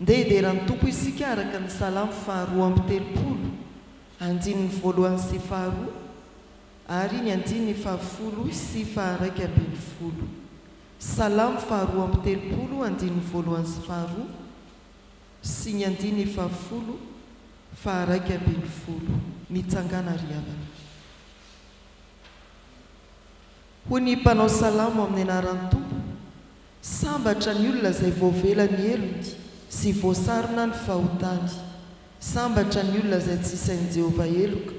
Ndeha hidera ny Tompo isika araka ny Salamo faharoa amby telopolo, andininy voalohany sy faharoa, ary ny andininy fahafolo sy faharaika ambin'ny folo. Salamo faharoa amby telopolo, andininy voalohany sy faharoa, sy ny andininy fahafolo, faharaika ambin'ny folo. Mitsangàna ry havana. Hoy ny mpanao salamo amin'ny anaran'ny Tompo. Sambatra ny olona izay voavela ny helony sy voasarona ny fahotany. Sambatra ny olona izay tsy isain'i Jehovah heloka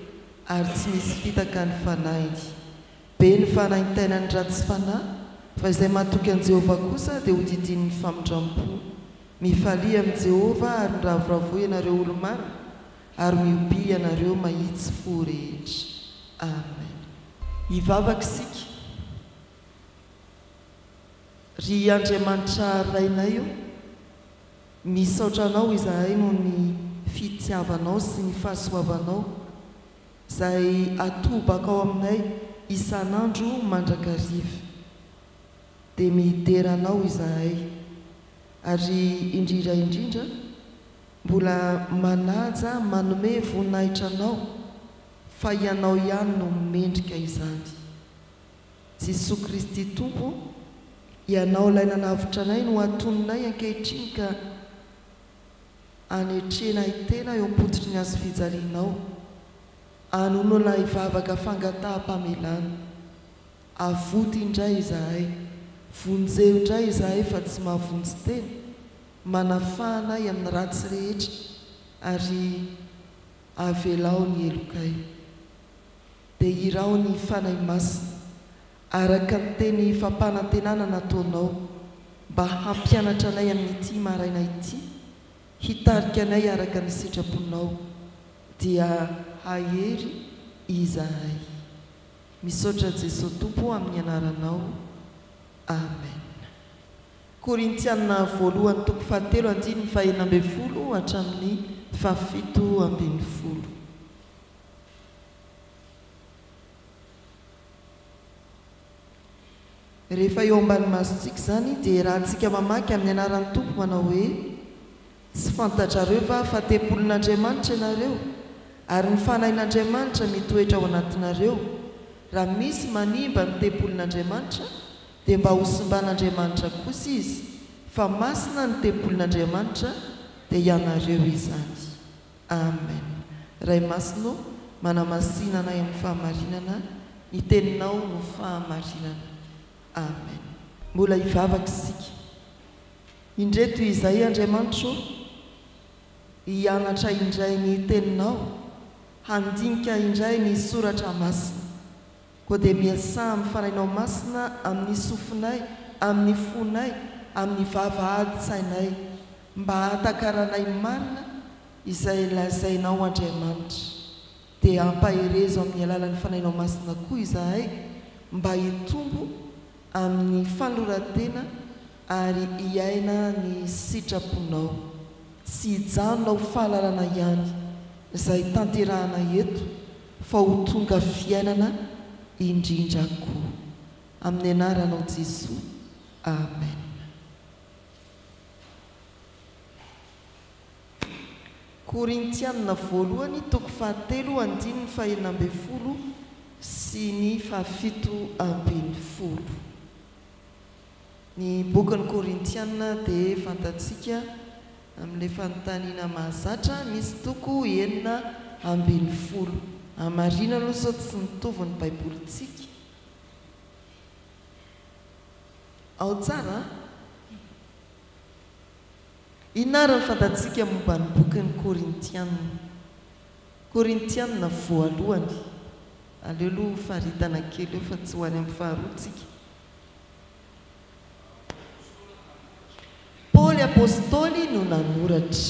ary tsy misy fitaka ny fanahiny. Be ny fanaintainan'ny ratsy fanahy, fa izay matoky an'i Jehovah kosa dia hodidinin'ny famindram-po. Mifalia amin'i Jehovah ary miravoravoa ianareo olo-marina, ary mihoby ianareo mahitsy fo rehetra. Amena. Hivavaka isika. Ry Andriamanitra Rainay o, misaotra Anao izahay noho ny fitiavanao sy ny fahasoavanao izay atobakao aminay isan'andro mandrakariva. Dia midera Anao izahay, ary indrindra indrindra mbola manaja manome voninahitra Anao fa Ianao ihany no mendrika izany. Jesoa Kristy Tompo o, Ianao Ilay nanavotra anay no antoninay ankehitriny ka anetrena ahy tena eo am-pototry ny hazo fijalianao, anonona ahy vavaka fangataham-pamelana. Avoty indray izahay, vonjeo indray izahay fa tsy mahavonjy tena, manafaha anay amin'ny ratsy rehetra ary avelao ny helokay. Dia hiraho ny Fanahy Masina, araka ny teny fampanantenana nataonao, mba hampianatra anay amin'ity maraina ity, hitarika anay araka ny sitraponao, dia hahery izahay. Misaotra Jesoa Tompo o amin'ny anaranao. Amen. Korintiana voalohany toko fahatelo andininy fahenina ambin'ny folo hatramin'ny fahafito ambin'ny folo. Rehefa eo ambany masontsika izany dia iarahantsika mamaky amin'ny anaran'ny Tompo manao hoe, Tsy fantatrareo va fa tempolin'Andriamanitra ianareo ary ny Fanahin'Andriamanitra mitoetra ao anatinareo? Raha misy manimba ny tempolin'Andriamanitra dia mba ho simban'Andriamanitra kosa izy, fa masina ny tempolin'Andriamanitra, dia ianareo izany. Amen Ray masina ô manamasina anay amin'ny fahamarinana ny teninao no fahamarinana Amen. Mbola hivavaka isika indre toy izay Andriamanitra ô hianatra indray ny teninao handinika indray ny soratra masina. Koa dia miasà amin'ny Fanahinao Masina amin'ny sofinay, amin'ny fonay, amin'ny vavahadin-tsainay, mba hahatakaranay marina izay lazainao Andriamanitra. Dia ampaherezo amin'ny alalan'ny Fanahinao Masina koa izahay mba hitombo amin'ny fanoran-tena ary hiaina ny sitraponao. Tsy hijanona ho fahalalana ihany izay tanterahana eto fa ho tonga fiainana indrindra koa. Amin'ny anaranao Jesoa, Amen. Korintiana Voalohany toko fahatelo andininy fahenina ambin'ny folo sy ny fahafito ambin'ny folo. Ny bokin'ny Korintiana dia fantatsika amin'ilay fanontaniana mahazatra misy toko enina ambin'ny folo. Amin'ny marina aloha izao tsy mitovy ny Baibolintsika. Ao tsara an! Inona àry ny fantatsika momba ny bokin'ny Korintiana? Korintiana voalohany. Aleo aloha ho faritana kely eo fa tsy ho any amin'ny faharoa tsika. Paoly Apostoly no nanoratra.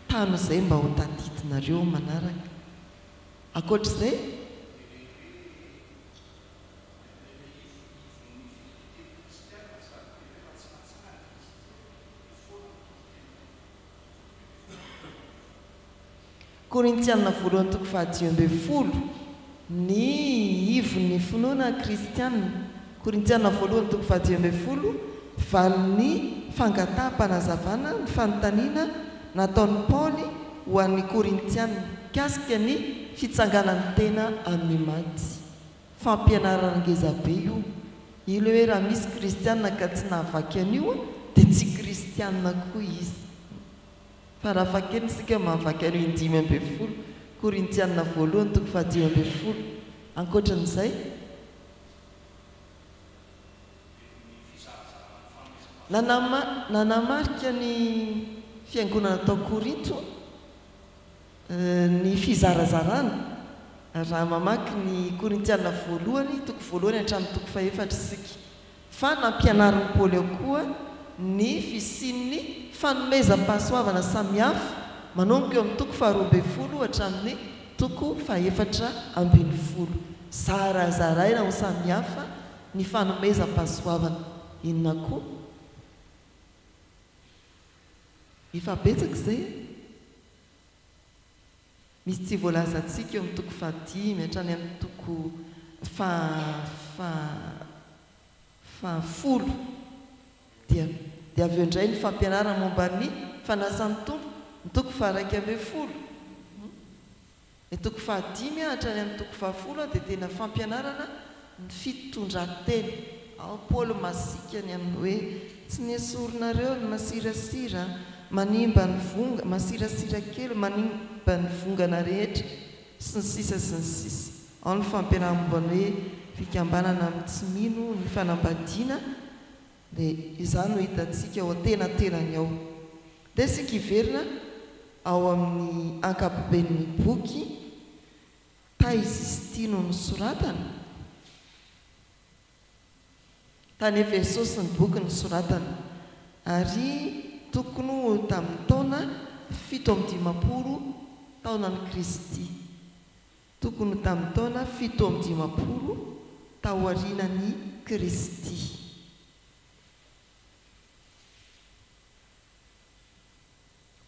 Tano izay mba ho tadidinareo manaraka. Ankoatra izay? Korintiana voalohany toko fahadimy ambin'ny folo, Ny ivon'ny finoana kristiana, Korintiana voalohany toko fahadimy ambin'ny folo, Valin'ny fangataham-panazavana ny fanontaniana nataon'i Paoly ho an'ny Korintiana mikasika ny fitsanganan'ny tena amin'ny maty. Fampianarana ngeza be io. Ilay hoe raha misy kristianina ka tsy nahavaky an'io dia tsy kristianina koa izy. Farafahakeliny isika mahavaky an'io indimy ambin'ny folo Korintianina voalohany toko fahadimy ambin'ny folo. Ankoatran'izay, nanamarika ny fiangonana tao Korinto. Ny fizarazarana, raha mamaky ny Korintiana voalohany, toko voalohany hatramin'ny toko fahefatra isika, fa nampianarin'i Paoly ao koa ny fisian'ny fanomezam-pahasoavana samihafa manomboka eo amin'ny toko faharoa ambin'ny folo hatramin'ny toko fahefatra ambin'ny folo. Zarazaraina ho samihafa ny fanomezam-pahasoavana. Inona koa? Efa betsaka izay e! Misy tsy voalazantsika eo amin'ny toko fahadimy hatrany amin'ny toko faha faha fahafolo. Dia dia avy eo indray ny fampianarana momba ny fanasan'ny Tompo, ny toko faha iraika ambin'ny folo. Ny toko fahadimy hatrany amin'ny toko fahafolo dia tena fampianarana ny fitondran-tena. Ao Paoly masika ny amin'ny hoe, Tsy nesorinareo ny masirasira manimba ny vonga, masirasira kely manimba ny vongana rehetra, sy ny sisa sy ny sisa. Ao ny fampianarana momba ny hoe fikambanana amin'ny tsy mino ny fanambadiana Dia izany no hitantsika ao an-tenantenany ao. Ndeha isika hiverina ao amin'ny ankapoben'ny boky taiza izy ity no nosoratana? Tany Efesosy ny boky nosoratana, ary tokony ho tamin'ny taona fito amby dimampolo taonan'i Kristy. Tokony ho tamin'ny taona fito amby dimampolo taorianan'i Kristy.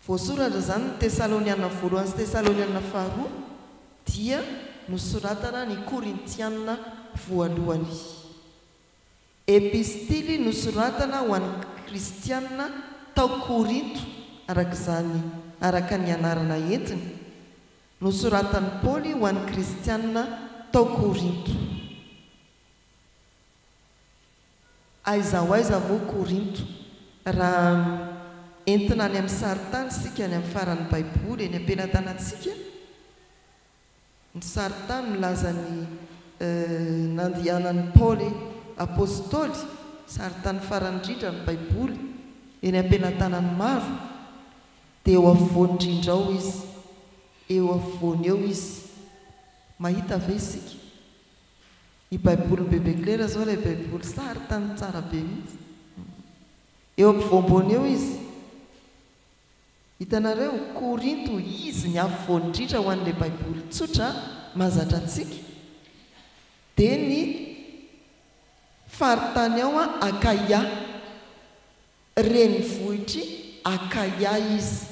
Voasoratra izany ny Tesaloniana Voalohany sy Tesaloniana Faharoa, dia nosoratana ny Korintiana Voalohany. Epistily nosoratana ho an'ny Kristiana tao Korinto, araka izany, araka ny anarana entiny, Nosoratan'i Paoly ho an'ny Kristianina tao Korinto. Aiza ho aiza moa Korinto? Raha entina any amin'ny sarintany isika any amin'ny faran'ny Baiboly eny am-pelatanantsika, ny sarintany milaza ny nandehanan'i Paoly Apostoly, sarintany farany indrindra ny Baiboly, eny am-pelatanan'ny maro. Dia eo afovoan-drindra ao Izy, eo afovoany eo Izy. Mahita ve isika? Ny Baibolin'i Bebe Klera izao, ilay Baiboly sary tany tsara be mihitsy. Eo ampovoampoany eo Izy. Hitanareo? Korinto, Izy ny afovoany indrindra ho an'ilay Baiboly tsotra mahazatra antsika. Dia ny faritany ao Akaia. Renivohitr'i Akaia izy,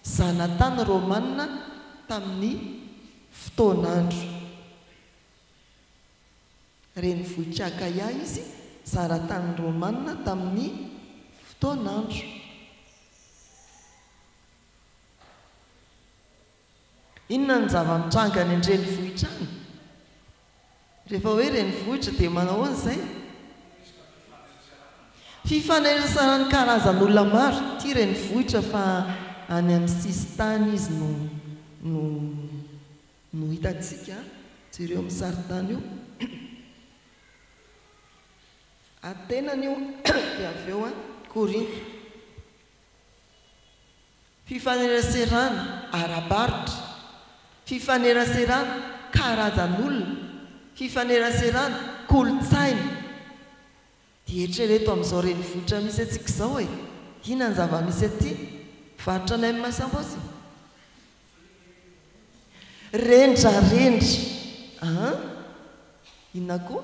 zanatany romanina tamin'ny fotoan'andro. Renivohitr'i Akaia izy, zanatany romanina tamin'ny fotoan'andro. Inona no zava-mitranga any an-drenivohitra any? Rehefa hoe renivohitra dia manao ahoana izay? Fifanaisan'ny karazan'olona maro, ity renivohitra fa any amin'ny sisintany izy no no no hitantsika, jereo amin'ny sarintany io, atenany io dia avy eo Korinto. Fifaneraserana ara-barotra, fifaneraserana karazan'olona, fifaneraserana kolontsaina. Dia eritrereto amin'izao renivohitra misy antsika izao e! Inona ny zava-misy aty? Varotra nem sambos e! Rendrarendra an! Inona koa?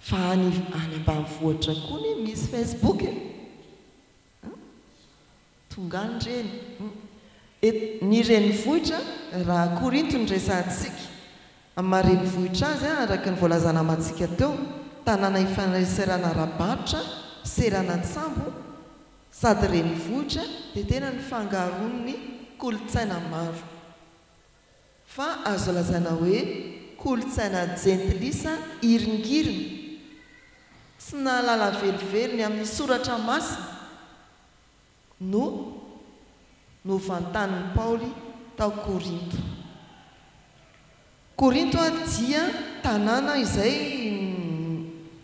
Fa any any ambanivohitra koa anie misy Facebook e! An! Tonga any reny! An! Et ny renivohitra raha Korinto no resahantsika, amin'ny maha renivohitra azy an, araka ny voalazana amantsika teo, tanàna ifaneraserana ara-barotra, seranan-tsambo, sady renivohitra, dia tena nifangaroan'ny kolontsaina maro. Fa azo lazaina hoe kolontsaina jentilisa iringiriny, tsy nahalala velively ny amin'ny Soratra Masina, no novantanin'i Paoly tao Korinto. Korinto dia tanàna izay.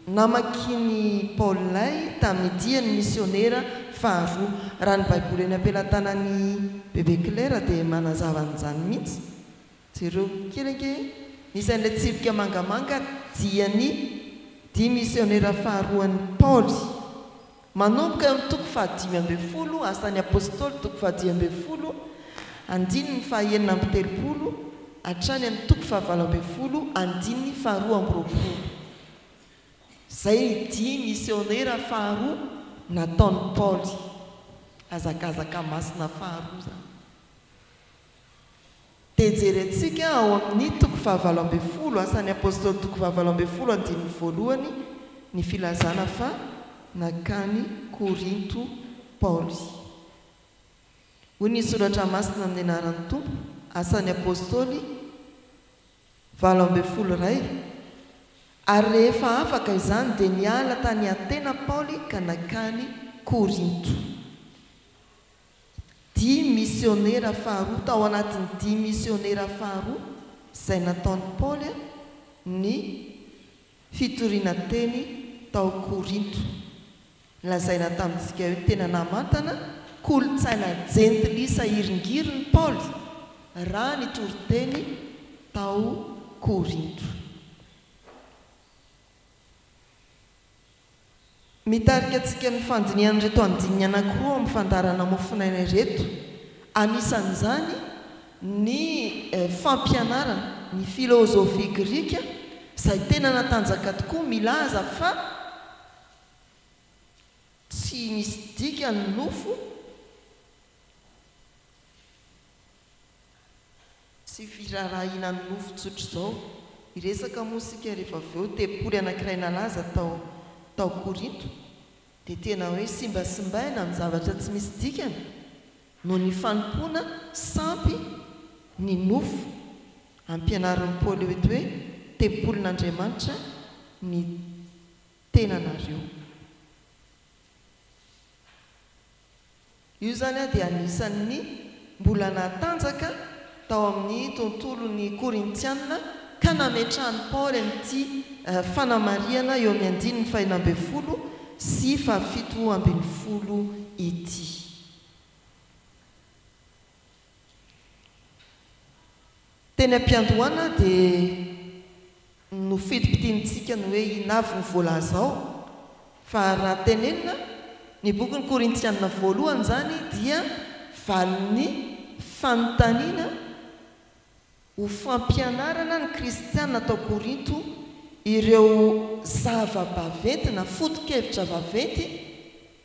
Namakian'i Paoly lay tamin'ny diany misionera faharoa. Raha ny Baiboly eny am-pelatanan'i Bebe Claire dia manazava an'izany mihitsy. Jereo kely ange e! Misy an'ilay tsipika mangamanga dian'ny dia misionera faharoan'i Paoly. Manomboka eo amin'ny toko fahadimy ambin'ny folo, Asan'ny Apôstôly, toko fahadimy ambin'ny folo, andininy fahaenina amby telopolo, hatrany amin'ny toko fahavalo ambin'ny folo, andininy faharoa amby roapolo. Izay ny dihy misiônera faharoa nataon'i Paoly. Hazakazaka masina faharoa izany. dia jerentsika ao amin'ny toko fahavalo ambin'ny folo, Asan'ny Apôstôly toko fahavalo ambin'ny folo andininy voalohany, ny filazana fa nankany Korinto Paoly. Hoy ny Soratra Masina amin'ny anaran'ny Tompo, Asan'ny Apôstôly valo ambin'ny folo iray, Ary rehefa afaka izany dia niala tany Atena Paoly ka nankany Korinto. Dimy misionera faharoa, tao anatin'ny dimy misionera faharoa izay nataon'i Paoly ny fitoriana teny tao Korinto. Lazaina tamintsika eo, tena namantana kolontsaina jentilisa hiringirin'i Paoly raha nitory teny tao Korinto. Mitarika antsika amin'ny fandinihana ireto andininy anankiroa ao amin'ny fandaharana Mofonaina ireto. Anisan'izany ny fampianarana ny filôzôfia grika izay tena natanjaka tokoa milaza fa tsy misy dikany ny nofo, Tsy firaharaha hihinan'ny nofo tsotra izao. Hiresaka moa isika rehefa avy eo. Tempoly anankiray nalaza tao tao Korinto dia tena hoe simbasimbaina amin'ny zavatra tsy misy dikany noho ny fanompoana sampy ny nofo. Ampianarin'i Paoly eto hoe tempolin'Andriamanitra ny tenanareo. Io izany dia anisan' ny mbola natanjaka tao amin' ny tontolon' ny Korintiana ka nametrahan' i Paoly an' ity fanamarihana eo amin' ny andininy fahenina ambin'ny folo sy fahafito ambin'ny folo ity. Teny am-piandohana dia nofidimpidinintsika ny hoe inona avy no voalaza ao, fa raha tenenina, ny bokin'ny Korintiana voalohany izany dia valin'ny fanontaniana ho fampianarana ny kristiana tao Korinto ireo zava-baventy na foto-kevitra vaventy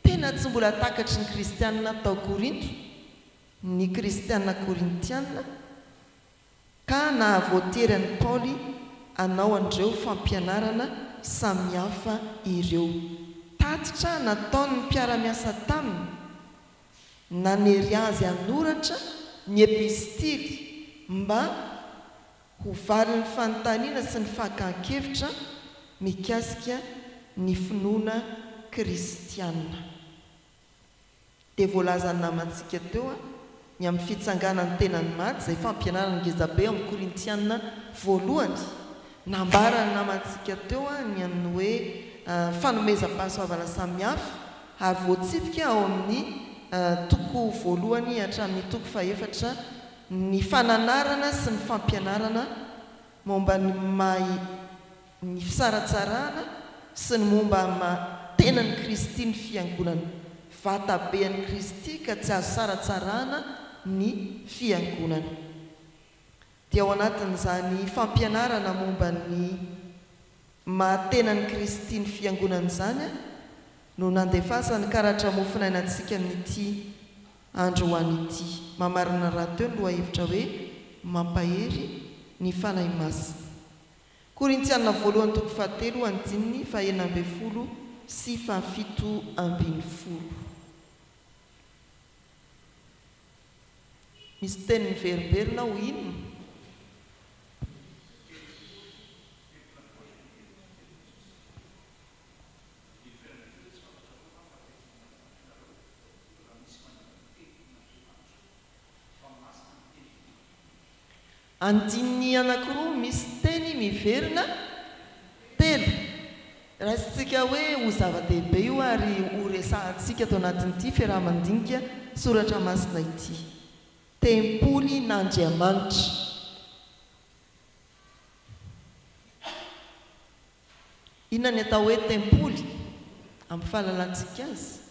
tena tsy mbola takatry ny kristiana tao Korinto. ny Kristiana Korintiana, ka nahavoatery an'i Paoly hanao an'ireo fampianarana samihafa ireo. Tatitra nataon'ny mpiara-miasa taminy, nanery azy hanoratra ny epistily mba ho valin'ny fanontaniana sy ny fakan-kevitra mikasika ny finoana kristiana. Dia voalazan'ny namantsika teo ny amin'ny fitsanganan'ny tenan'i Maty izay fampianaran'i ngezabe ao amin'ny Korintiana voalohany. Nambaran'ny namantsika teo ny amin'ny hoe fanomezam-pahasoavana samihafa ary voatsipika ao amin'ny toko voalohany hatramin'ny toko fahefatra ny fananarana sy ny fampianarana momba ny maha ny fisaratsarana sy ny momba ny maha tenan'i Kristy ny Fiangonana, vatabe an'i Kristy ka tsy azo saratsarana ny Fiangonana. Dia ao anatin'izany fampianarana momba ny maha tenan'i Kristy ny Fiangonana izany no nandefasan'ny karatra mofonaina antsika amin'ity androany ity. Mamarana rahateo ny lohahevitra hoe, Mampahery ny Fanahy Masina. Korintiana voalohany toko fahatelo andininy fahenina ambin'ny folo sy fahafito ambin'ny folo. Misy teny miverimberina ao inona? Andininy anankiroa misy teny miverina telo raisintsika hoe ho zava-dehibe io ary ho resahantsika ato anatin'ity fiaraha-mandinika soratra masina ity. Tempolin'Andriamanitra. Inona ny atao hoe tempoly amin'ny fahalalantsika azy?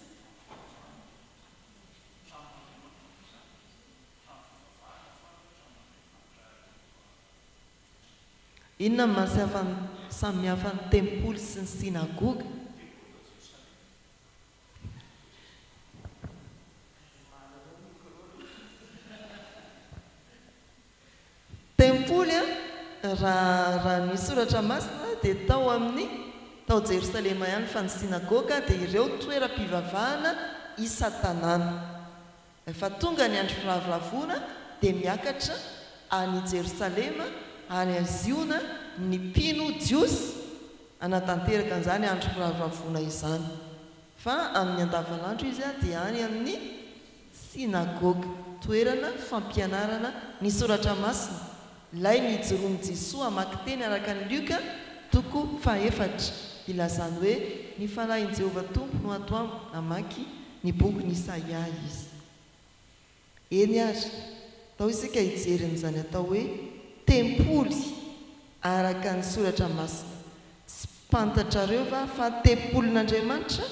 Fampivavahana fantatra amin'ny Andriamanitra Yehova mandritra ny Inona no maha samihafa ny tempoly sy ny synagoga? Tempoly, raha ny soratra masina dia tao amin'ny tao Jerosalema ihany fa ny synagoga dia ireo toeram-pivavahana isan-tanàna. Rehefa tonga ny andro firavoravoana dia miakatra any Jerosalema ary aziona ny mpino jiosy hanatanteraka an'izany andro firavoravoana izany. Fa amin'ny andavanandro izy dia any amin'ny synagoga, toerana fampianarana ny soratra masina, Ilaina hijoroan'i Jesoa hamaky teny araka an'i Lioka, toko fahefatra, hilazany hoe, Ny fanahin'i Jehovah Tompo no ato amiko, namaky ny bokin'i Isaia izy. Eny àry, atao isika hijery an'izany atao hoe tempoly araka ny Soratra Masina. Tsy fantatrareo va fa tempolin'Andriamanitra?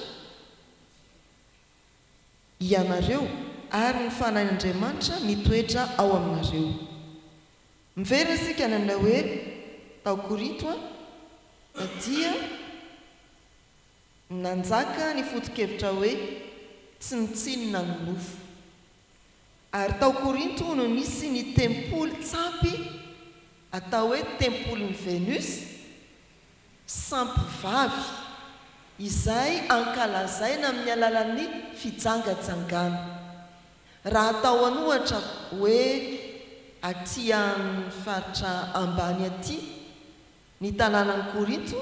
ianareo ary ny fanahin'Andriamanitra mitoetra ao aminareo. Miverina isika nanao hoe tao Korinto an, fa dia nanjaka ny foto-kevitra hoe tsy mitsinona ny nofo. Ary tao Korinto hono nisy ny tempoly tsampy atao hoe tempolin'i Venus, sampivavy, izay ankalazaina amin'ny alalan'ny fijangajangana. Raha atao an'ohatra hoe aty amin'ny faritra ambany aty Ny tanànan'i Korinto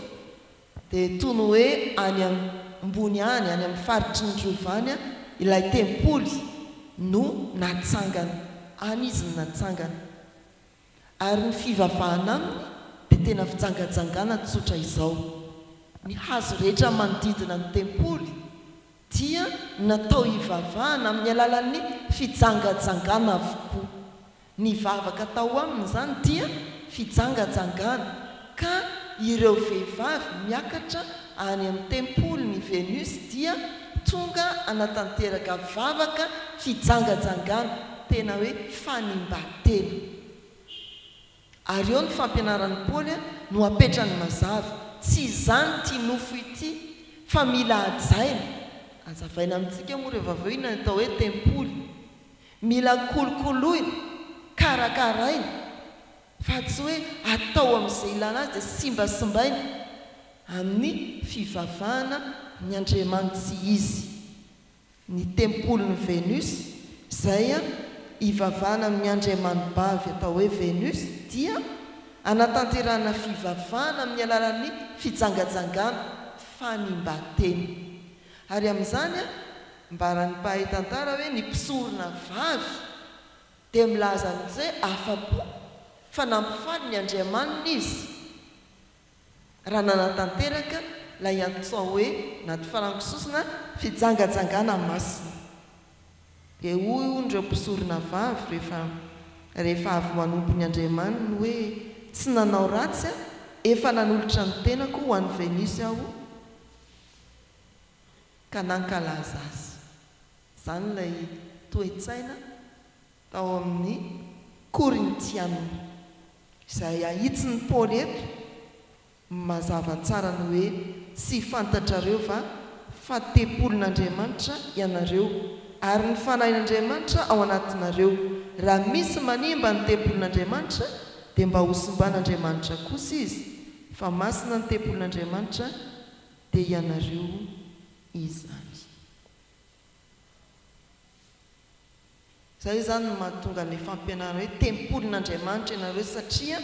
dia toy ny hoe any ambony any, any amin'ny faritry ny rova any ilay tempoly no natsangana. Any izy no natsangana. Ary ny fivavahana aminy dia tena fijangajangana tsotra izao. Ny hazo rehetra manodidina ny tempoly. dia natao hivavahana amin'ny alalan'ny fijangajangana avokoa. Ny vavaka atao aminy izany dia fijangajangana, ka ireo vehivavy miakatra any amin'ny tempolin'i Venus dia tonga hanatanteraka vavaka fijangajangana, tena hoe fanimban-tena. Ary eo ny fampianaran'i Paoly no apetrany mazava, Tsy izany ity nofo ity, fa mila hajaina. Hazavaina amintsika moa rehefa avy eo inona ny atao hoe tempoly. Mila kolokoloina, karakaraina, fa tsy hoe atao amin'izay ilana azy dia simbasimbaina amin'ny fivavahana ny Andriamanitsy izy. ny tempolin'i Venus, izay ivavahana amin'ny andriamanibavy atao hoe Venus, dia anatanterahana fivavahana amin'ny alalan'ny fijangajangana, fanimban-tena. Ary amin'izany, ambaran'ny mpahay tantara hoe ny mpisorona vavy dia milaza an'izay afa-po fa nampifaly ny andriamaniny izy. raha nanatanteraka ilay antsoa hoe na ty farango sosona fijangajangana masina. Dia hoy hono ireo mpisorona vavy rehefa rehefa avy manompo ny Andriamaniny hoe, Tsy nanao ratsy aho, efa nanolotra ny tenako ho an'i Venus aho ka nankalaza azy. Izany ilay toe-tsaina. tao amin'ny Korintiana. Izay ahitsin'i Paoly eto no mazava tsara ny hoe Tsy fantatrareo va fa tempolin'Andriamanitra ianareo, ary ny Fanahin'Andriamanitra ao anatinareo? Raha misy manimba ny tempolin'Andriamanitra, dia mba hosimban'Andriamanitra kosa izy, fa masina ny tempolin'Andriamanitra, dia ianareo izany. Izay izany no mahatonga an'ilay fampianarana hoe tempolin'Andriamanitra ianareo satria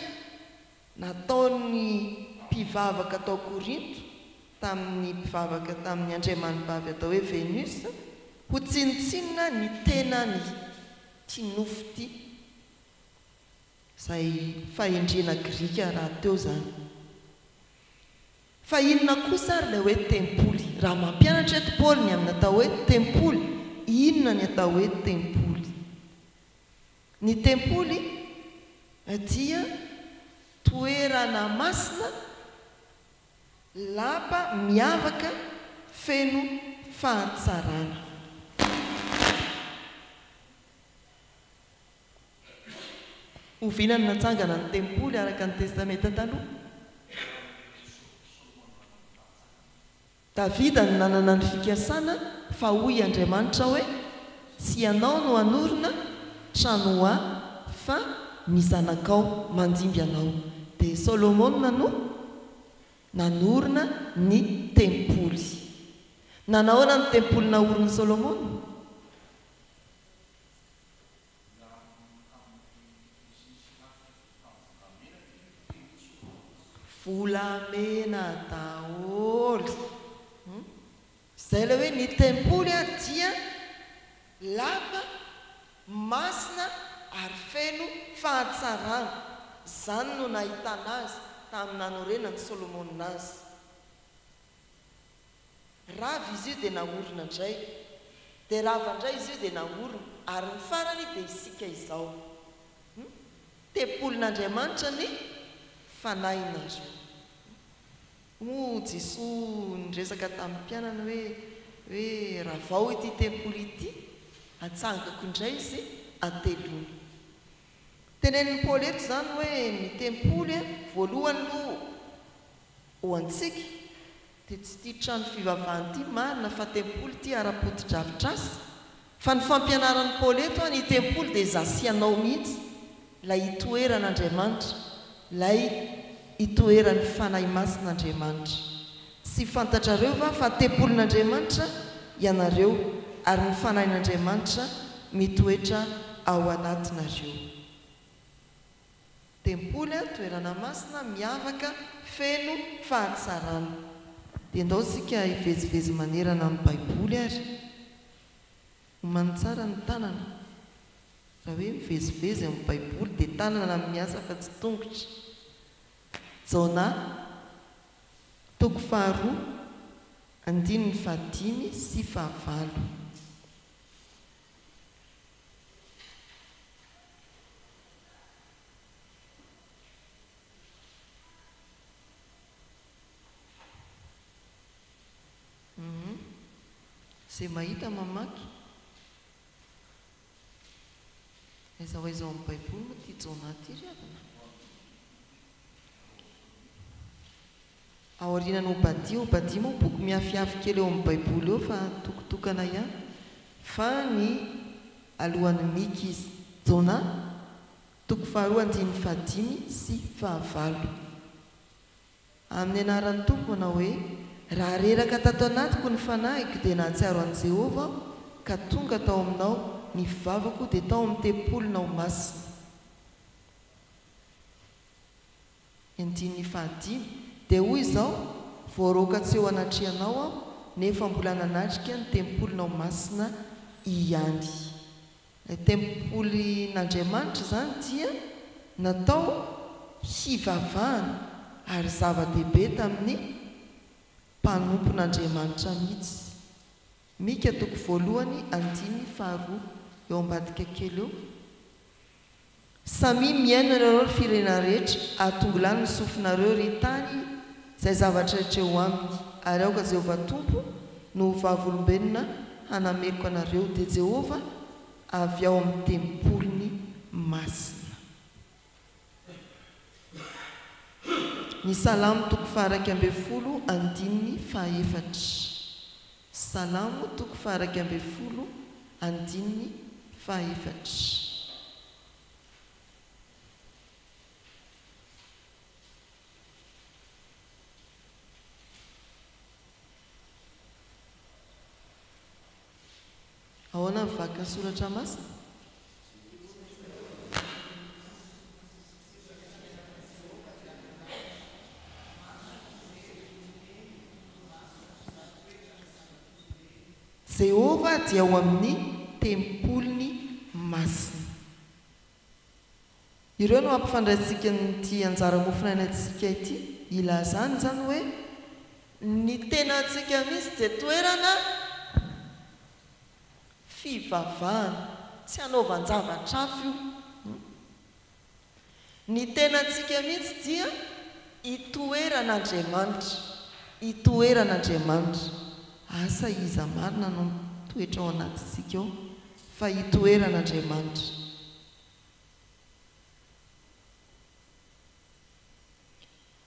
nataon'ny mpivavaka tao Korinto tamin'ny mpivavaka tamin'ny andriamanibavy atao hoe Venus ho tsinontsinona ny tenany ity nofo ity izay fahendrena grika rahateo izany. Fa inona kosa ary ilay hoe tempoly? Raha mampianatra eto Paoly ny amin'ny atao hoe tempoly, inona ny atao hoe tempoly? Ny tempoly dia toerana masina, lapa miavaka, feno fahatsarana. Oviana no natsangana ny tempoly araka ny Testamenta Taloha? Davida no nanana ny fikasana fa hoy Andriamanitra hoe, Tsy ianao no hanorina trano ho Ahy, fa ny zanakao mandimby anao. Dia Solomona no nanorina ny tempoly. Nanahoana ny tempoly naorin'i Solomona? Volamena daholo hum zay le hoe ny tempoly ary dia lava, masina ary feno fahatsarana, zany no nahitana azy tamin'ny nanorenan'i Solomona azy. Rava izy io dia naorina indray. Dia rava indray izy io dia naorina. Ary ny farany dia isika izao. Hum. Tempolin'Andriamanitra ny fanahinareo. Hum. Moa Jesoa niresaka tamin'ny mpianany hoe, hoe ravao ity tempoly ity, atsangako indray izy antelona. Tenenin'i Paoly eto izany hoe ny tempoly voalohany aloha Ho antsika, dia tsy ity trano fivavahana ity marina fa tempoly ity ara-potodrafitrasa, fa ny fampianaran'i Paoly eto an, ny tempoly dia izaho sy ianao mihitsy, ilay itoeran'Andriamanitra, ilay itoeran'ny Fanahy Masin'Andriamanitra. Tsy fantatrareo va fa tempolin'Andriamanitra ianareo ary ny Fanahin'Andriamanitra mitoetra ao anatinareo? Tempoly, toerana masina, miavaka, feno fahatsarana. Dia ndao isika hivezivezy manerana ny Baiboly ary. Omanin tsara ny tanana. Raha hoe mivezivezy amin'ny Baiboly dia tanana no miasa fa tsy tongotra. Jona, toko faharoa, andininy fahadimy sy fahavalo. Izay mahita mamaky. Aiza ho aiza ao amin'ny Baiboly moa ity Jona ity ry havana? Aorianan'i Obadia, Obadia moa boky mihafihafy kely eo amin'ny Baiboly eo fa toko tokana ihany, fa ny alohan'i Mika izy. Jona, toko faharoa andininy fahadimy sy fahavalo. Amin'ny anaran'ny Tompo, manao hoe, Raha reraka tato anatiko ny fanahiko dia nahatsiaro an'i Jehovah aho ka tonga tao aminao, ny vavako dia tao amin'ny tempolinao masina. Ny andininy fahadimy dia hoy izao, Voaroaka tsy eo anatrehanao aho, nefa mbola nanatrika ny tempolinao masina ihany. Ilay tempolin'Andriamanitra izany dia natao hivavahana, ary zava-dehibe tamin'ny mpanompon'Andriamanitra mihitsy. Mika toko voalohany andininy faharoa, eo ambadika kely eo. Samia mihaino anareo ry firenà rehetra, atongilano ny sofinareo ry tany izay zavatra rehetra eo aminy, ary aoka Jehovah Tompo no ho vavolombelona hanameloka anareo, dia Jehovah avy ao amin'ny tempoliny masina. Ny Salamo toko faha iraika ambin'ny folo andininy faha efatra. Salamo toko faha-iraika ambin'ny folo andininy faha-efatra. Ahoana ny vaky ny soratra masina? Jehovah dia ao amin'ny tempoliny masina. Ireo no hampifandraisintsika an'ity anjara mofonainantsika ity ilazany izany hoe. Ny tenantsika mihitsy dia toerana fivavahana. Tsy hanaovan-javatra hafa io. Ny tenantsika mihitsy dia itoeran'Andriamanitra. Itoeran'Andriamanitra. Asa iza marina no mitoetra ao anatintsika ao? Fa hitoeran' Andriamanitra.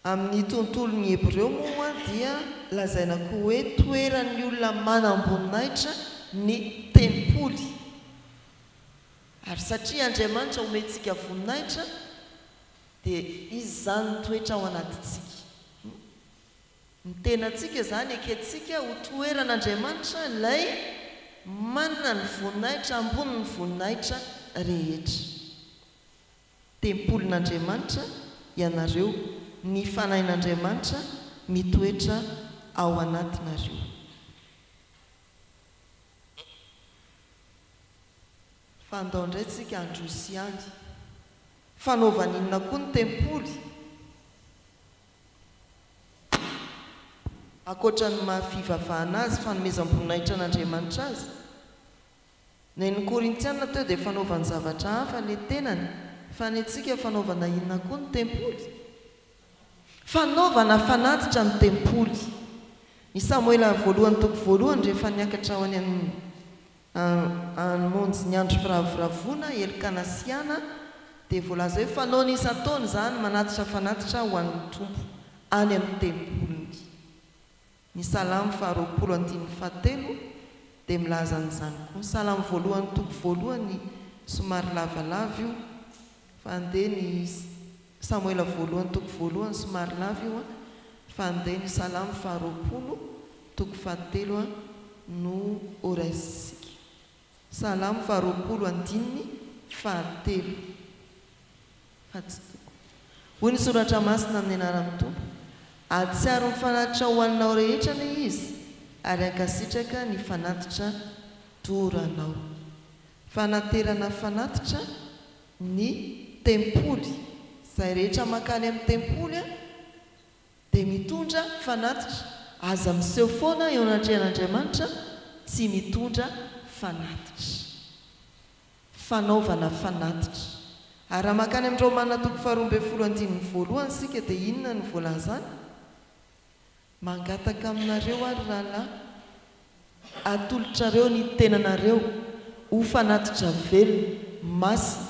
Amin' ny tontolon' ny Hebreo moa dia lazaina koa hoe toeran' ny olona manam-boninahitra ny tempoly, ary satria Andriamanitra omentsika voninahitra dia izy izany mitoetra ao anatintsika. Ny tenantsika izany ekentsika ho toeran'Andriamanitra ilay manana ny voninahitra ambonin'ny voninahitra rehetra. Tempolin'Andriamanitra ianareo, ny Fanahin'Andriamanitra mitoetra ao anatinareo. Fa andao indray tsika handroso ihany. Fanaovan'inona koa ny tempoly? Ankoatra ny maha fivavahana azy fanomezam-boninahitra an'Andriamanitra azy, ny ain'ny Korintiana teo dia fanaovany zavatra hafa ny tenany, fa ny antsika fanaovana inona koa ny tempoly? Fanaovana fanatitra ny tempoly. I Samoela voalohany toko voalohany rehefa niakatra ho any amin'ny Ny monjy ny andro firavoravoana, Elkanasiana, dia voalaza hoe fanaony isan-taona izany manatitra fanatitra ho an'ny Tompo any amin'ny tempoliny. Ny Salamo faharoapolo andininy fahatelo dia milaza an'izany koa. Salamo voalohany toko voalohany somary lavalava io. Fa ndeha ny Samoela voalohany toko voalohany somary lava io an! Fa ndeha ny Salamo faharoapolo toko fahatelo an! no ho raisintsika. Salamo faharoapolo andininy fahatelo. Fa tsy toko. Hoy ny Soratra Masina amin'ny anaran'ny Tompo, Hahatsiaro ny fanatitra ho anao rehetra anie Izy, ary hankasitraka ny fanatitra doranao. Fanaterana fanatitra ny tempoly. Izay rehetra mankany amin'ny tempoly dia mitondra fanatitra. Aza miseho foana eo anatrehan'Andriamanitra tsy mitondra fanatitra. Fanaovana fanatitra. Ary raha mankany amin'ny Romana toko faharoa ambin'ny folo andininy voalohany isika dia inona no voalazany? Mangataka aminareo aho ry rahalahy, atolotrareo ny tenanareo ho fanatitra velona, masina,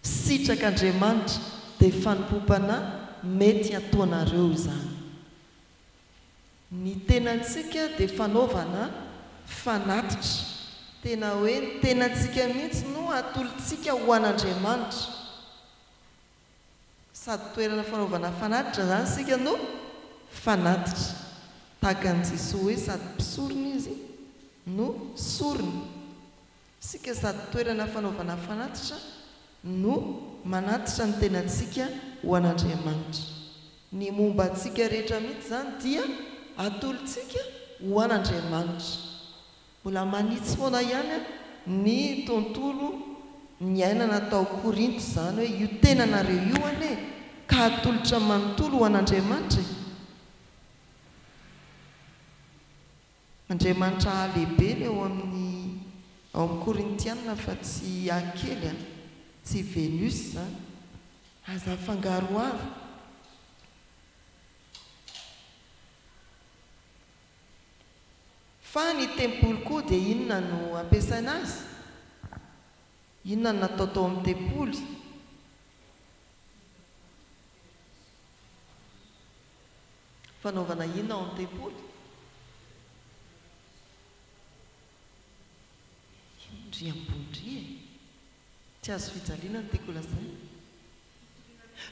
sitrak' Andriamanitra, dia fanompoam-panahy mety hataonareo izany. Ny tenantsika dia fanaovana fanatitra. Tena hoe ny tenantsika mihitsy no atolotsika ho an' Andriamanitra. Sady toerana fanaovana fanatitra izany isika no fanatitra. Tahaka an'i Jesoa hoe sady mpisorona Izy no sorona. Isika sady toerana fanaovana fanatitra no manatitra ny tenantsika ho an'Andriamanitra. Ny momba antsika rehetra mihitsy izany dia atolotsika ho an'Andriamanitra. Mbola manitsy foana ihany ny tontolo niainana tao Korinto izany hoe io tenanareo io anie ka atolotra manontolo ho an'Andriamanitra e! Andriamanitra A lehibe ny ao amin'ny ao amin'ny Korintiana fa tsy A kely a! Tsy Venus izany! Aza afangaroharo! Fa ny tempoly koa dia inona no ampiasaina azy? Inona no natao tao amin'ny tempoly? Fanaovana inona ao amin'ny tempoly? Inona ry ambony ry e? Tsy azo fijaliana ny tempoly lazaina.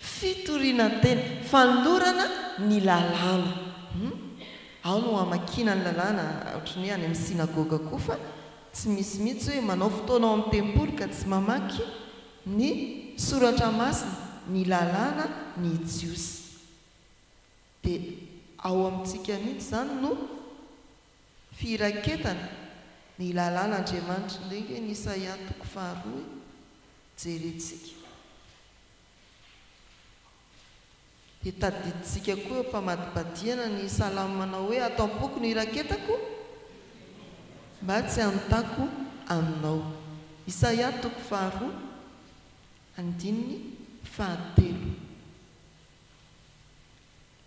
Fitoriana ny teny, fanolorana ny lalàna. Hum. Ao no hamakiana ny lalàna, ohatry ny hoe any amin'ny synagoga koa fa tsy misy mihitsy hoe manao fotoana ao amin'ny tempoly ka tsy mamaky ny soratra masina, ny lalàna ny jiosy. Dia ao amintsika mihitsy izany no. Firaketana ny lalàn'Andriamanitra indray ve ny Isaia toko faharoa e? Jerentsika. Dia tadidintsika koa eo am-pamadibadihana ny salamo manao hoe, Ato am-poko no iraketako mba tsy hanontako Aminao. Isaia toko faharoa andininy fahatelo.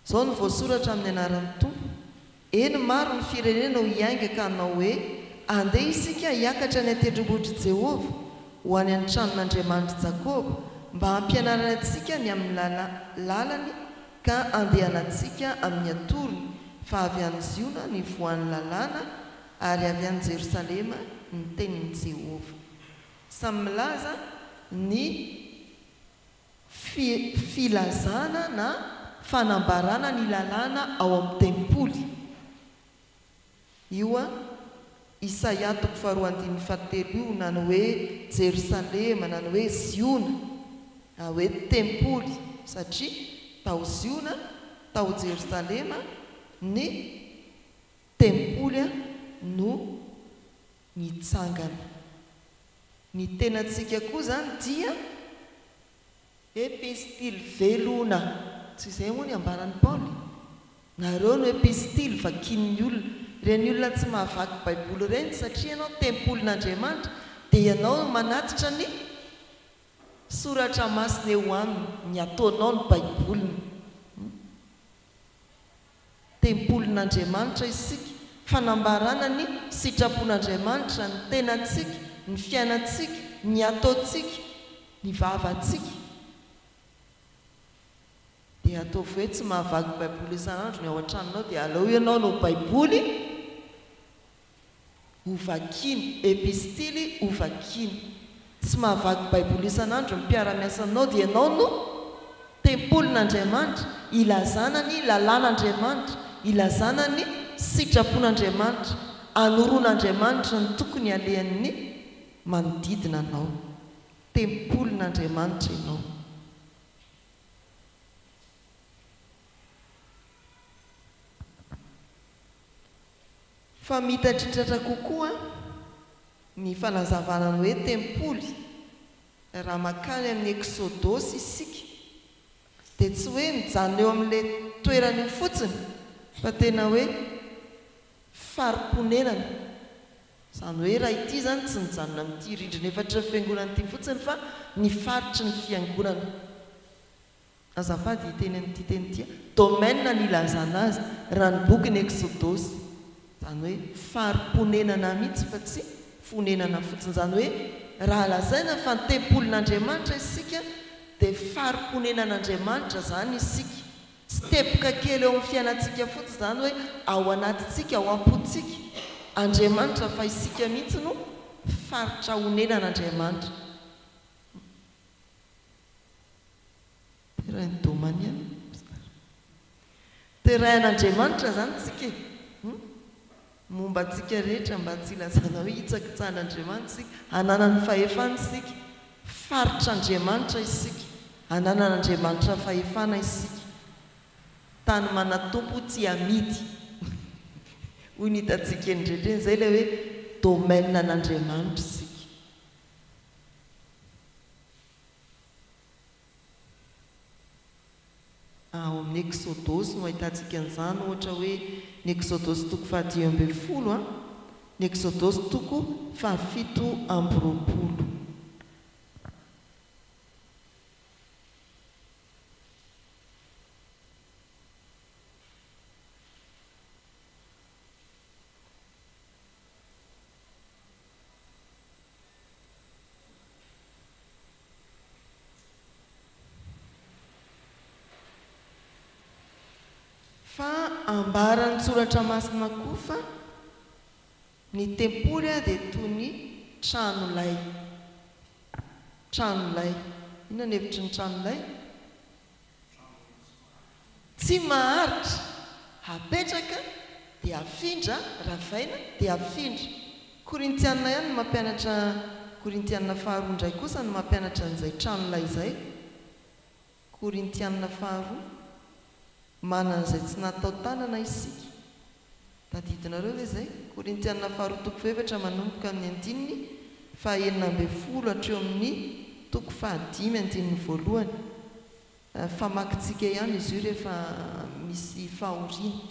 Izao no voasoratra amin'ny anaran'ny Tompo, Eny, maro ny firenena ho hiainga ka hanao hoe, Andeha isika hiakatra any an-tendrombohitr'i Jehovah, ho any an-tranon'Andriamanitr'i Jakoba, mba hampianarany antsika ny amin'ny lala, lalany, ka handehanantsika amin'ny atorony, fa avy any Ziona ny voan'ny lalàna, ary avy any Jerosalema ny tenin'i Jehovah. Samy milaza ny. Fi, filazana na fanambarana ny lalàna ao amin'ny tempoly. Io an, Isaia toko faharoa andininy fahatelo io, na ny hoe Jerosalema, na ny hoe Ziona, na hoe tempoly, satria tao Ziona, tao Jerosalema, ny tempoly no. nitsangana. Ny tenantsika koa izany dia epistily velona, tsy izay moa ny ambaran'i Paoly? Nareo no epistily vakian'ny olona. Ireny olona tsy mahavaky Baiboly ireny, satria ianao tempolin'Andriamanitra, dia ianao no manatitra ny soratra masina eo aminy, ny ataonao no Baiboliny. Tempolin'Andriamanitra isika, fanambarana ny sitrapon'Andriamanitra, ny tenantsika, ny fiainantsika, ny ataontsika, ny vavantsika. Dia ataovy hoe tsy mahavaky Baiboly isan'andro ny ao an-tranonao dia aleo ianao no Baiboly. Hovakiny, Epistily hovakiny. Tsy mahavaky Baiboly isan'andro ny mpiara-miasa aminao dia ianao no Tempolin'Andriamanitra, ilazana ny lalàn'Andriamanitra, ilazana ny sitrapon'Andriamanitra, anoroan'Andriamanitra ny tokony halehan'ny manodidina anao. Tempolin'Andriamanitra ianao. Fa mitatritratra kokoa ny fanazavana ny hoe tempoly raha makany amin'ny Eksodosy isika dia tsy hoe mijanona eo amin'ilay toerana io fotsiny fa tena hoe fari-ponenana, izany hoe raha ity izany tsy nijanona amin'ity rindrina efatry ny fiangonana ity fotsiny fa ny faritry ny fiangonana. Azafady hiteny an'ity teny ity aho. Domaine ny ilazana azy raha ny bokin'i Eksodosy. Izany hoe fari-ponenana mihitsy fa tsy fonenana fotsiny. Izany hoe raha lazaina fa tempolin'Andriamanitra isika dia fari-ponenan'Andriamanitra izany isika. Tsiteboka kely eo amin'ny fiainantsika fotsiny izany hoe ao anatintsika, ao am-pontsika, Andriamanitra fa isika mihitsy no faritra onenan'Andriamanitra. Terrain domanial Oscar. Terrain Andriamanitra zany tsika e! Hum! Momba antsika rehetra mba tsy ilazana hoe hitsakitsahan' Andriamanitra isika, hananany fahefana isika, faritr' Andriamanitra isika, hananan' Andriamanitra fahefana isika, tany manatompo tsy hamidy hoy ny hitantsika eny rehetra eny, izay ilay hoe domaine an' Andriamanitra isika. Ao amin'ny Eksodosy no ahitantsika an'izany, ohatra hoe ny Eksodosy toko fahadimy ambin'ny folo, ny Eksodosy toko fahafito amby roapolo. Fa ambaran'ny Soratra Masina koa fa ny tempoly dia toy ny tranolay. Tranolay. Inona ny hevitry ny tranolay? Tsy maharitra. Hapetraka dia afindra, ravaina dia afindra. Korintiana ihany ny mampianatra Korintiana faharoa indray kosa no mampianatra an'izay tranolay izay, Korintiana faharoa, Manana izay tsy natao tanana isika, Tadidinareo ve izay? Korintiana faharoa toko fahaefatra manomboka amin'ny andininy fahaenina ambin'ny folo hatreo amin'ny toko fahadimy andininy voalohany. Famakintsika ihany izy io rehefa misy fahoriana.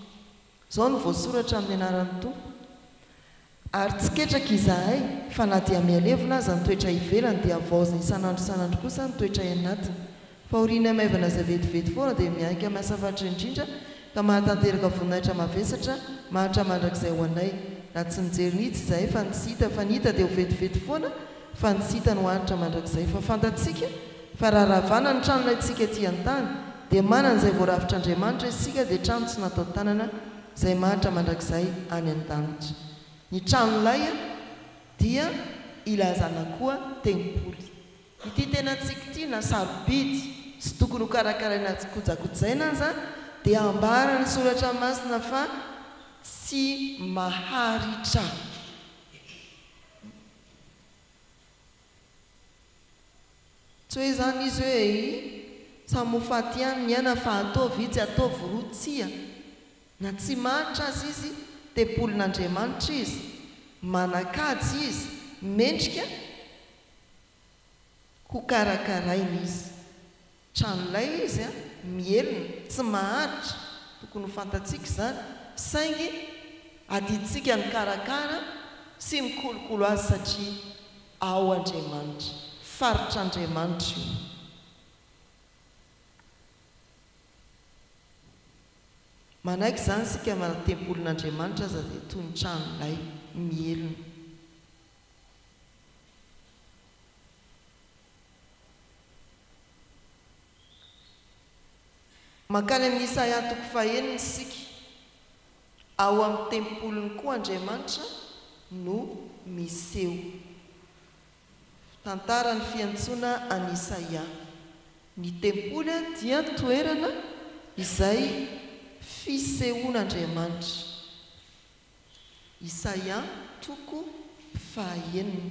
Izao no voasoratra amin'ny anaran'ny Tompo. Ary tsy ketraka izahay, fa na dia mihalevona aza ny toetra ivelany dia havaozina isan'andro isan'andro kosa ny toetray anatiny. Fahorianay maivana izay vetivety foana dia miainga amin'ny asa faritra indrindra ka mahatanteraka voninahitra mavesatra mahantra mandrakizay ho anay. Na tsy nijery mihitsy izahay fa ny tsy hita fa ny hita dia ho vetivety foana fa ny tsy hita no hahantra mandrakizay fa fantatsika fa raha ravana ny tranonay tsika ety an-tany dia manana izay voarafitr'Andriamanitra isika dia trano tsy natao tanana Izay mahantra mandrakizay any an-danitra. Ny tranolay dia ilazana koa tempoly. Ity tena tsiky ity na sarobidy sy tokony ho karakaraina tsy kojakojaina aza dia ambaran'ny soratra masina fa tsy maharitra. Tsy hoe izany izy hoe eh ih, samy ho faty ihany ny aina fa ataovy itsy ataovy roa tsia. Na tsy mahantra aza izy, tempolin'Andriamanitra izy, manan-kaja izy, mendrika ho karakaraina izy. Trano lay izy an, mihelina, tsy maharitra, tokony ho fantatsika izany, saingy adidintsika ny karakara sy ny kolokolo azy satria ao Andriamanitra, faritr'Andriamanitra io. Manaiky izany isika fa na tempolin'Andriamanitra aza dia toy ny trano lay, mihelina. Mankany amin'i Isaia toko fahenina isika. Ao amin'ny tempoliny koa Andriamanitra no miseho. Tantara ny fiantsoana an'i Isaia. Ny tempoly dia toerana izay fisehoan'Andriamanitra. Isaia toko fahenina.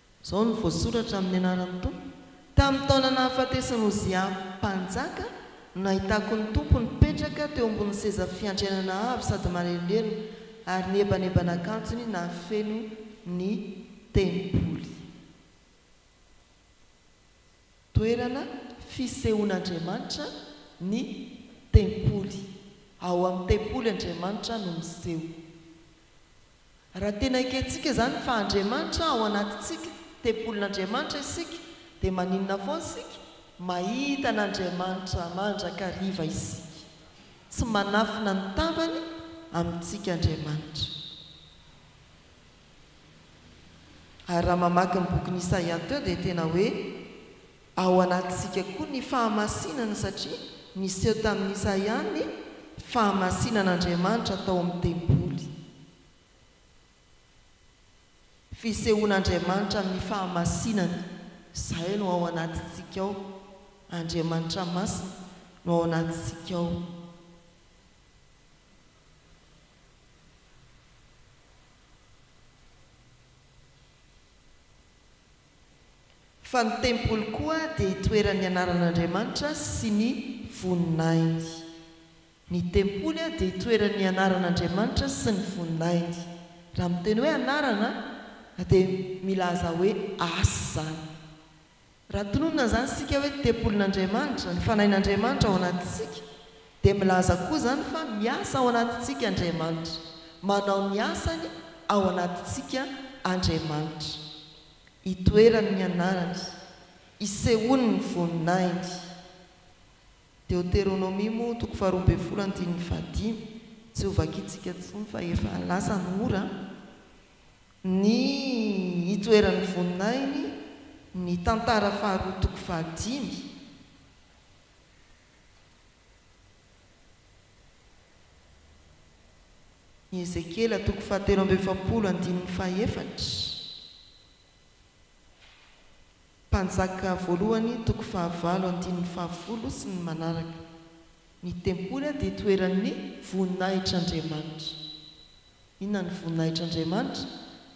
Izao no voasoratra amin'ny anaran'ny Tompo, Tamin'ny taona nahafatesan'i Ozia mpanjaka no nahitako ny Tompo nipetraka teo ambonin'ny seza fiandrianana avo sady manelingelina, ary ny ebaneban'akanjony nahafeno ny tempoly. Toerana fisehoan'Andriamanitra ny tempoly. Ao amin'ny tempoly Andriamanitra no miseho. Raha tena ekentsika izany fa Andriamanitra ao anatintsika, tempolin'Andriamanitra isika, dia maninona foana isika? Mahita an'Andriamanitra mandrakariva isika. Tsy manafina ny tavany amintsika Andriamanitra. Ary raha mamaky ny bokin'i Isaia teo dia tena hoe ao anatintsika koa ny fahamasinana satria niseho tamin'i Isaia ny fahamasinan'Andriamanitra tao amin'ny tempoly. Fisehoan'Andriamanitra amin'ny fahamasinana izay no ao anatintsika ao, Andriamanitra masina no ao anatintsika ao. Fa ny tempoly koa dia itoeran'ny anaran'Andriamanitra sy ny voninahiny. Ny tempoly dia itoeran'ny anaran'Andriamanitra sy ny voninahiny. Raha miteny hoe anarana dia milaza hoe asa izany. Raha tononina izany isika hoe ny tempolin'Andriamanitra, ny fanahin'Andriamanitra ao anatintsika, dia milaza koa izany fa miasa ao anatintsika Andriamanitra, manao ny asany ao anatintsika Andriamanitra. Itoerany ny anarany, isehoany ny voninahiny. Deoteronomia moa, toko faharoa ambin'ny folo andininy fahadimy, tsy ho vakintsika intsony fa efa lasa ny ora. Ny itoeran'ny voninahiny, ny Tantara faharoa toko fahadimy. Ny Ezekiela toko fahatelo amby efapolo andininy fahaefatra, Mpanjaka voalohany toko fahavalo andininy fahafolo sy ny manaraka. Ny tempoly dia itoeran'ny voninahitr'Andriamanitra. Inona ny voninahitr'Andriamanitra?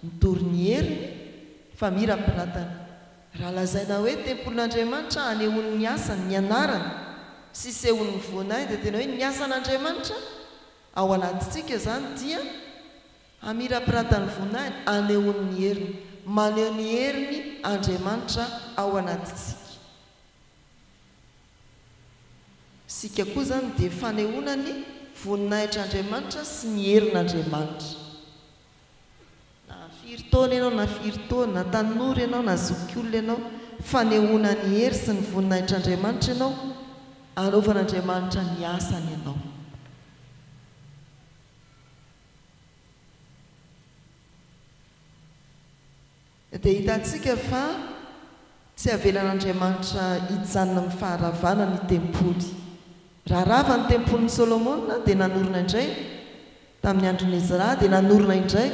Mitory ny heriny, fa mirampiratana. Raha lazaina hoe tempolin'Andriamanitra hanehoany ny asany, ny anarany, sy hisehoany ny voninahiny, dia tena hoe ny asan'Andriamanitra ao anatintsika izany dia hamirapirata ny voninahiny, hanehoany ny heriny. Maneho ny heriny Andriamanitra ao anatintsika. Isika koa izany dia fanehoana ny voninahitr'Andriamanitra sy ny herin'Andriamanitra. Na firy taona ianao na firy taona, na tanora ianao na zokiolona ianao, fanehoana ny hery sy ny voninahitr'Andriamanitra ianao, anaovan'Andriamanitra ny asany ianao. Dia hitantsika fa tsy havelan'Andriamanitra hijanona amin'ny faharavana ny tempoly. Raha rava ny tempolin'i Solomona dia nanorina indray tamin'ny andron'i Ezra, dia nanorina indray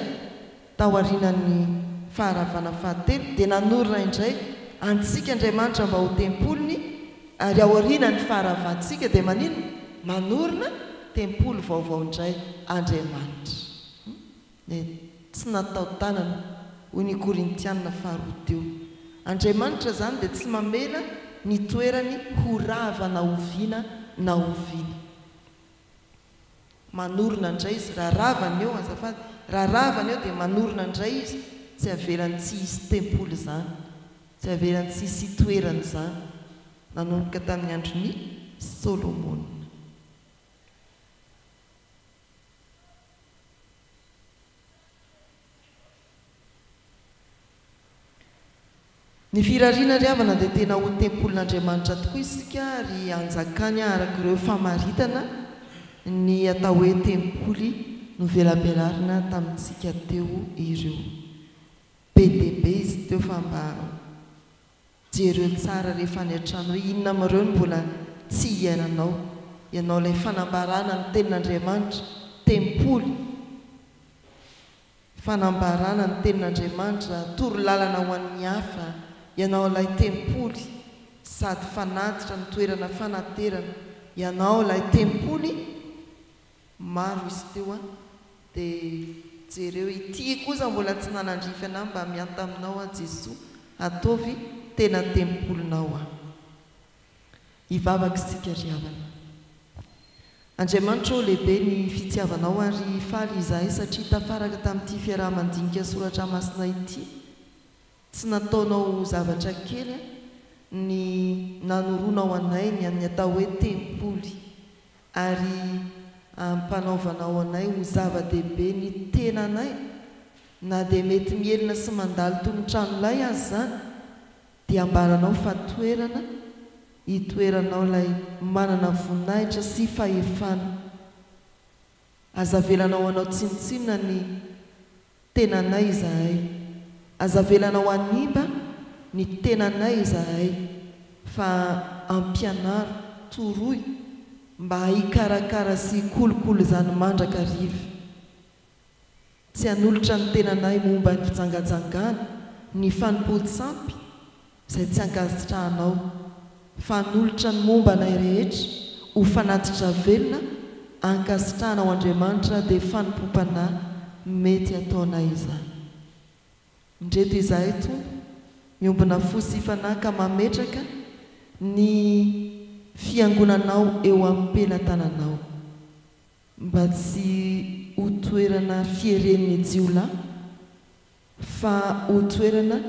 taorianan'ny faharavana fahatelo, dia nanorina indray antsika Andriamanitra mba ho tempoliny, ary aorianan'ny faharavantsika dia maninona? Manorina tempoly vaovao indray Andriamanitra. Ny tsy nataodanana, hoy ny Korintiana faharoa teo. Andriamanitra izany dia tsy mamela ny toerany ho rava na oviana na oviana. Manorina indray Izy raha rava ny eo, azafady, raha rava ny eo dia manorina indray Izy, tsy avelany tsy hisy tempoly izany, tsy avelany tsy hisy itoerany izany, nanomboka tamin'ny andron'i Solomona. Ny firariana ry havana dia tena ho tempolin'Andriamanitra tokoa isika ary hanjakany araka ireo famaritana ny atao hoe tempoly novelabelarina tamintsika teo ireo. Be dia be izy teo fa mba. Jereo tsara rehefa any an-trano hoe inona amin'ireo no mbola tsy hihainanao. Ianao ilay fanambarana ny Tenin'Andriamanitra, tempoly. Fanambarana ny Tenin'Andriamanitra, toro lalana ho an'ny hafa. Ianao ilay tempoly sady fanatitra ny toerana fanaterana. Ianao ilay tempoly. Maro izy teo an! Dia jereo ity kosa mbola tsy nanandrify anah mba mianta aminao aho Jesoa ataovy tena tempolinao aho. Hivavaka isika ry havana. Andriamanitra ô lehibe ny fitiavanao ary faly izahay satria tafaraka tamin'ity fiaraha-mandinika soratra masina ity, tsy nataonao ho zavatra kely an! ny nanoronao anay ny an'ny atao hoe tempoly. ary ampanaovanao anay ho zava-dehibe ny tenanay, na dia mety mihelina sy mandalo toy ny tranolay aza izany, dia ambaranao fa toerana itoeranao ilay manana voninahitra sy fahefana. Aza avelanao hanao tsinontsinona ny Tenanay izahay. Aza avelana ho hanimba ny tenanay izahay fa ampianaro, toroy mba hikarakara sy hikolokolo izany mandrakariva. Tsy hanolotra ny tenanay momba ny fijangajangana, ny fanompoan-tsampy, izay tsy ankasitrahanao, fa hanolotra ny momba anay rehetra ho fanatitra velona ankasitrahana ho Andriamanitra dia fanompoam-panahy mety ataonay izany. Indreto izahay Tompo miombona fo sy fanahy ka mametraka ny Fiangonanao eo am-pelatananao, mba tsy ho toerana fieren'ny jiolahy, Fa O toerana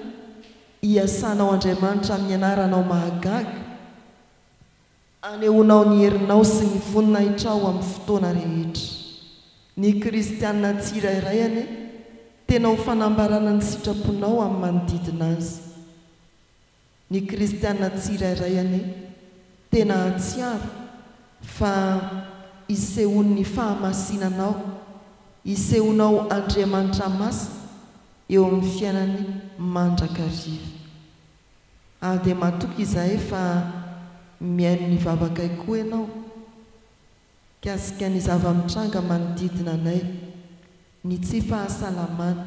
iasanao Andriamanitra amin'ny anaranao mahagaga, anehoanao ny herinao sy ny voninahitrao amin'ny fotoana rehetra. Ny kristiana tsirairay anie tena ho fanambarana ny sitraponao amin'ny manodidina azy. Ny kristiana tsirairay anie tena hatsiaro fa isehoan'ny fahamasinanao, isehoanao Andriamanitra masina eo amin'ny fiainany mandrakariva. Ary dia matoky izahay fa mihaino ny vavakay koa ianao mikasika ny zava-mitranga manodidina anay, ny tsy fahasalamana,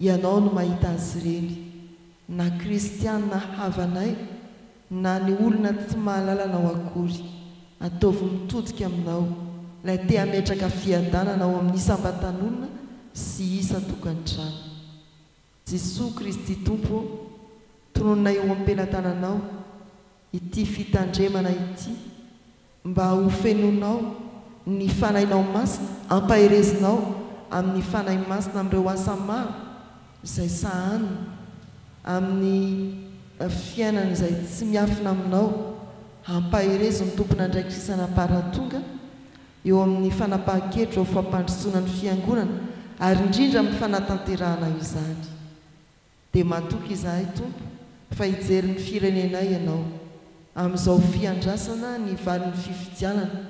Ianao no mahita azy ireny, na kristiana havanay, na ny olona tsy mahalala Anao akory. Ataovy mitodika Aminao, Ilay te hametraka fiadanana ao amin'ny isam-batan'olona sy isan-tokantrano. Jesoa Kristy Tompo ô, tononina eo am-pelatananao, ity fitandremana ity mba ho fenonao ny Fanahinao Masina ampaherezinao amin'ny Fanahy Masina amin'ireo asa maro izay sahaniny amin'ny fiainana izay tsy miafina aminao hampaherezo ny tompon'andraikitra isan'amparatonga eo amin'ny fanapahan-kevitra ho fampandrosoana ny Fiangonana ary indrindra amin'ny fanatanterahana izany Dia matoky izahay Tompo fa hijery ny firenenay Ianao amin'izao fiandrasana ny valin'ny fifidianana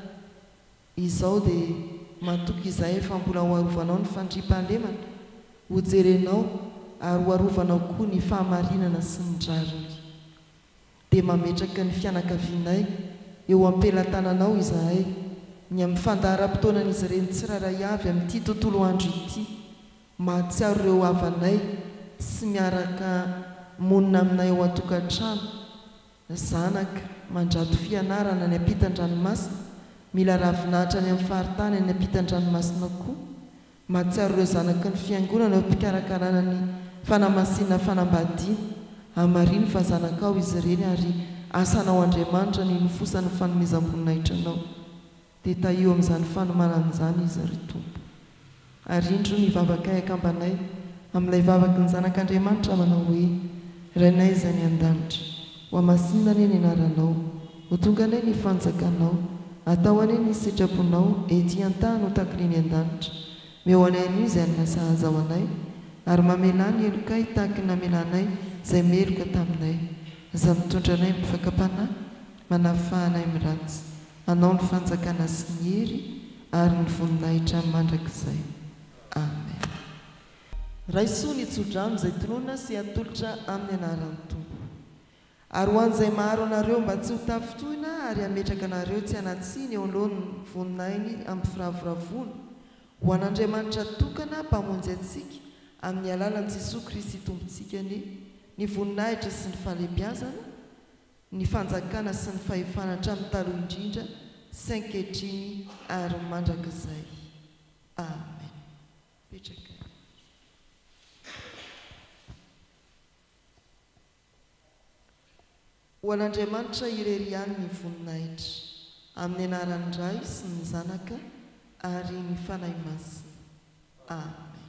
izao dia matoky izahay fa mbola ho arovanao ny fandriampahalemana, ho jerenao ary ho arovanao koa ny fahamarinana sy ny rariny. Dia mametraka ny fianakavianay eo am-pelatananao izahay, ny amin'ny fandaharam-potoanan'izy ireny tsirairay avy amin'ity tontolo andro ity, Mahatsiaro ireo havanay sy miaraka monina aminay ao an-tokantrano, zanaka, mandrato fianarana any ampitan-dranomasina, mila ravinahitra any amin'ny faritany any ampitan-dranomasina koa. Mahatsiaro ireo zanaky ny Fiangonana eo am-pikarakarana ny fanamasinana fanambadiana. Hamarino fa zanakao izy ireny ary asanao Andriamanitra ny hinofosan'ny fanomezam-boninahitra anao. Dia tahio amin'izany fanomanana izany izy, ry Tompo. Ary indro ny vavakay akambanay, amin'ilay vavaky ny Zanak'Andriamanitra manao hoe, Rainay Izay any An-danitra, hohamasinina anie ny Anaranao, ho tonga anie ny Fanjakanao, atao anie ny sitraponao ety an-tany ho takiny eny an-danitra, meohany hainoa izay alina sahaza ho anay, ary mamelà ny helokay tahaky ny namelanay izay meloka taminay. Aza mitondra anay amin'ny fakam-panahy, manafà anay amin'ny ratsy. Anao ny fanjakana sy ny hery ary ny voninahitra mandrakizay. Amen. Raiso ny tsodrano izay tononina sy atolotra amin'ny anaran'ny Tompo. Ary ho an'izay maharo anareo mba tsy ho tafintohina ary hametraka anareo tsy hanatsiny eo anoloan'ny voninahiny amim-piravoravoana, ho an'Andriamanitra tokana Mpamonjy antsika amin'ny alalan'i Jesoa Kristy Tompontsika anie ny voninahitra sy ny fahalebiazana, ny fanjakana sy ny fahefana hatramin'ny taloha indrindra sy ankehitriny ary mandrakizay. Amen. Petraka eo. Ho an'Andriamanitra irery ihany ny voninahitra, amin'ny anaran'ny Ray sy ny Zanaka ary ny Fanahy Masina. Amen.